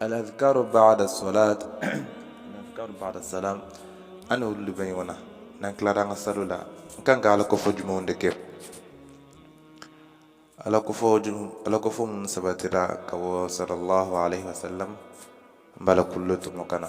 aladhikaru baada salat aladhikaru baada salam ani olu bɛɛ ɲɔgɔnna n'an tilara an ka sali la n kan ka ala kofɔ jumɛnw de kɛ ala kofɔ ala kofɔ minnu sabatira ka bɔ sallallahu alaihi wasallam n b'a la k'olu tɔmɔ ka na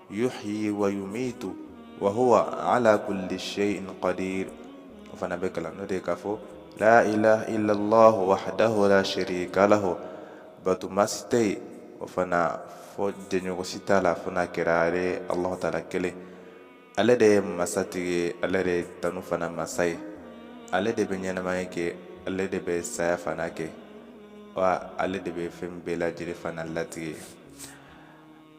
yuhyi wa yumitu wa huwa ala kulli shay'in qadir o fana bɛ kalan n'o de ye k'a fɔ la ilaha illallah wahdahu la sharika lahu batuma si tɛ yen o fana fɔ jɛɲɔgɔn si t'a la fo n'a kɛra ale alahu taala kelen ale de ye masatigi ye ale de ye tanu fana masa ye ale de bɛ ɲɛnamaya kɛ ale de bɛ saya fana kɛ wa ale de bɛ fɛn bɛɛ lajɛlen fana latigɛ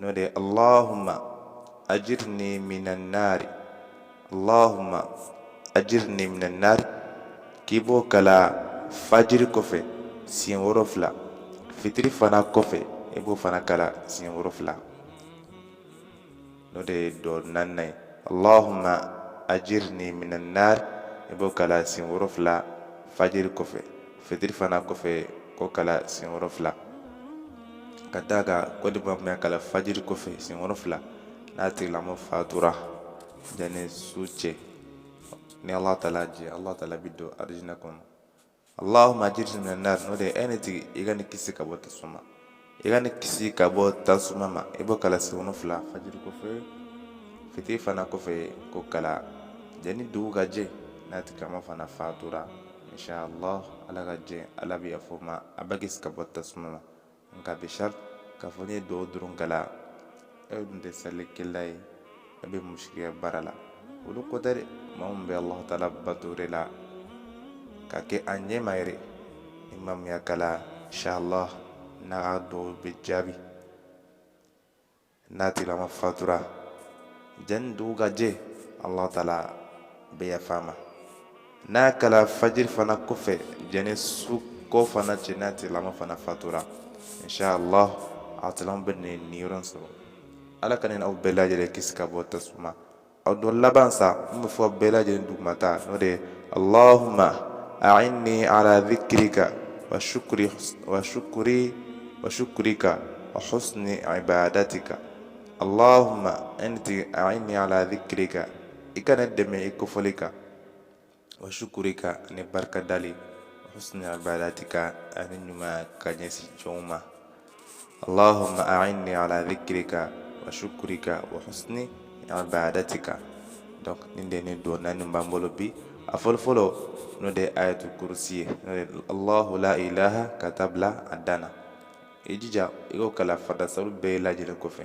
n'o de ye allahumma ajirni minan nari allahumma ajirni minan nari k'i b'o kalan fajiri kɔfɛ siɲɛ wolonfila fitiri fana kɔfɛ i b'o fana kalan siɲɛ wolonfila n'o de ye duwa naaninan ye allahumma ajirni minan nari i b'o kalan siɲɛ wolonfila fajiri kɔfɛ fitiri fana kɔfɛ k'o kalan siɲɛ wolonfila ka d'a kan ko ni maa min y'a kalan fajiri kɔfɛ siɲɛ wolonfila n'a tigilamɔgɔ fatura yanni su cɛ ni ala taala jɛ ala taala b'a don arijinɛ kɔnɔ allahumma ajirni minan nari n'o de ye e ne tigi i ka ne kisi ka bɔ tasuma i ka ne kisi ka bɔ tasuma ma i b'o kalan siɲɛ wolonfila fajiri kɔfɛ fitiri fana kɔfɛ k'o kalan janni dugu ka jɛ n'a tigilama fana fatura inshallah ala ka jɛ ala bɛ yafa a ma a bɛ kisi ka bɔ tasuma ma nka bishar k'a fɔ n'i ye duwa dɔrɔn kalan e dun tɛ salikɛla ye a bɛ musirikiya baara la olu ko tɛ dɛ maa min bɛ ala taala bato de la k'a kɛ a ɲɛma yɛrɛ ni maa min y'a kalan inshallah n'a ka duwa bɛ jaabi n'a tigilama fatura janni dugu ka jɛ ala taala bɛ yafa a ma n'a kɛra fajiri fana kɔfɛ janni su ko fana cɛ n'a tigilamɔgɔ fana fatura inshallah a tigilamɔgɔ bɛ nin niyɔrɔ in sɔrɔ ala k'an ni aw bɛɛ lajɛlen kisi ka bɔ tasuma a duwa laban sa n b'a fɔ bɛɛ lajɛlen dugumata n'o de ye allahumma a'inni ala dhikrika wa shukri wa shukri wa shukrika wa husni ibadatika Allahumma enti a'inni ala dhikrika i ka ne dɛmɛ i kofɔli kan wa shukurika ani barika dali wa husni ibadatika ani ɲumanya ka ɲɛsin jɔnw ma allahumma a'inni ala dhikrika wa shukurika wa husni ibadatika donc nin de ni duwa naani b'an bolo bi a fɔlɔfɔlɔ n'o de ye ayatu kurusi ye n'o de allahu la ilaha ka taa bila a dan na i jija i k'o kalan farida sali bɛɛ lajɛlen kɔfɛ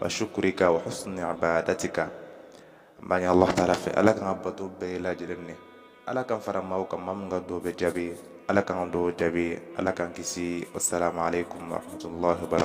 wa shukurika wa husni ibadatika an b'a ɲini allahu taala fɛ ala k'an ka bato bɛɛ lajɛlen minɛ ala k'an fara maaw kan maa min ka duwa bɛ jaabi ala k'an ka duwa jaabi ala k'an kisi wasalaamu aleykum wa rahmatulahi wa barakatu